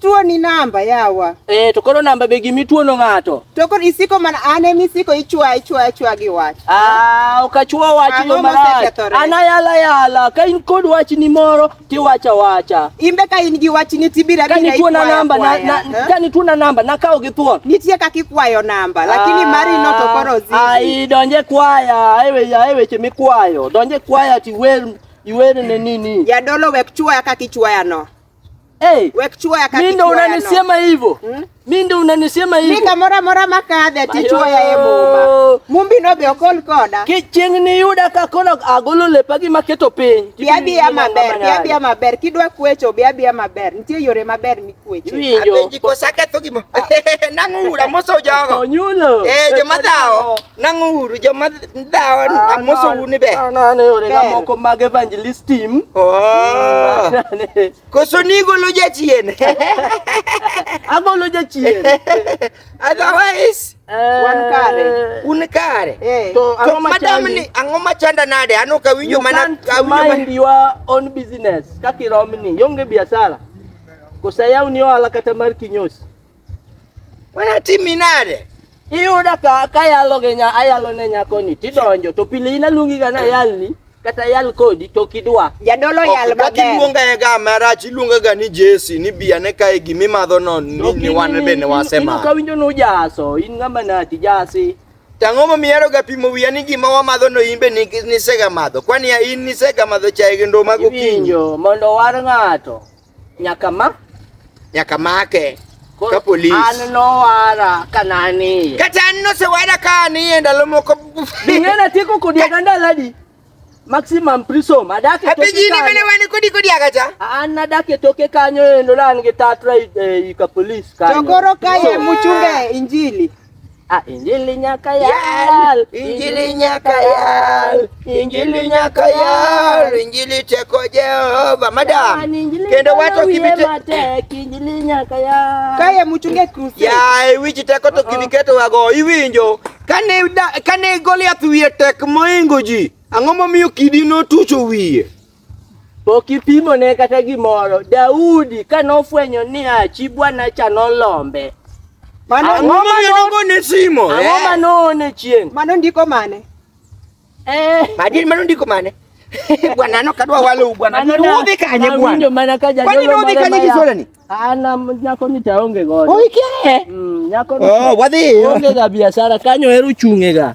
Tuo ni namba yawa. Eh, to koro namba be gimi tuo no ng'ato. To koro isiko mana an emi siko ichwa ichwa ichwa gi wach. Ah, okachwa wach no mara. Ana yala yala, ka in kod wach ni moro ti wacha wacha. Imbe ka in gi wach ni tibira bira. Kani tuo na namba na, na eh? kani tuo na namba na kawo gi thuon. Nitie kaka ikwayo namba, lakini ah, mari no to koro zii. Ai donje kwaya, ai weche ai weche mikwayo. Donje kwaya ti wer iwer ne nini. Jadolo wek chwa kaka ichwaya no. Hey, mimi ndo unanisema hivyo. Hmm? Mimi ndo unanisema hivyo. Mimi kamora mora makadhe tichwa ya yebo. Mumbi no be okol koda. Kiching ni yuda ka kono agolo le pagi maketo piny. Biabi ya maber, biabi ya maber. Kidwa kuecho biabi ya maber. Nitie yore maber mi kuecho. Abenji ko saka to gimo. Nangu ura moso jogo. Onyulo. Eh, joma dawo. Nang'uru joma dawa ah, amosou ni be. An ah, ane orega moko mag evangelist team. Oh. Koso ni golo jachien. Agolo jachien. Otherwise eh. wan kare. Un kare. Eh. To ang'o madam ni ang'o machanda nade? Ano ka winjo mana ka winjo mana your own business. Kaka iromni, yonge biashara. Kosa yaw ni ohala kata mar kinyosi. Mana timi nade? Iyuda ka kayalo gi nya ayalo ne nyako ni tidonjo to pile ina lungi ga na yalni kata yal kodi to kidwa. Jadolo yal maber. Kaki luonga e ga marach iluonga ga ni Jesse ni biya ne kae gimi madho no ni ni wan be ne wasema. Ino kawinjo no jaso in ngama na ti jasi. Tang'o ma miyaro ga pimo wiya ni gima wamadho no in be ni nisega madho. Kwani in nisega madho chae gi ndoma gokinyi. Mondo war ng'ato. Nyaka ma nyaka make ka polis. An nowara ka naniye. Kata an nosewara ka aniye ndalo moko. Ing'ena tieko kodi aga ndaladi. Maximum prison. Adak e toke kanyo. Apijini mene wani kodi kodi aga cha? An adak e toke kanyo endo la an gi tatra e, e, i ka polis kanyo. Tokoro kaye muchunge injili. Ah, injili nyakayal, injili nyakayal, injili nyakayal, injili teko Jehova madam. Kendo wato kibite matek, injili nyakayal. Kaye muchunge kruse. Ya, iwichi teko to kibiketo wago, iwinjo. Kane kane Goliath wiye tek moingo ji, ang'o momiyo kidi notucho wiye? Pokipimo ne kata gimoro. Daudi ka nofwenyo ni a chi bwana cha nolombe. Mano ang'o ma nogo ne simo? Ang'o eh? ma noone chieng'? Mano ndiko mane? Eh. Madi mano ndiko mane? Bwana no kadwa walo bwana. Mano udhi kanye bwana? Awinjo mana ka jadolo. Kwani udhi kanye kisola ni? Ana nyako ni taonge godo. Oi kye. Mm, nyako ni. Oh, wadhi. Onge ga biashara kanyo eru chung'ega.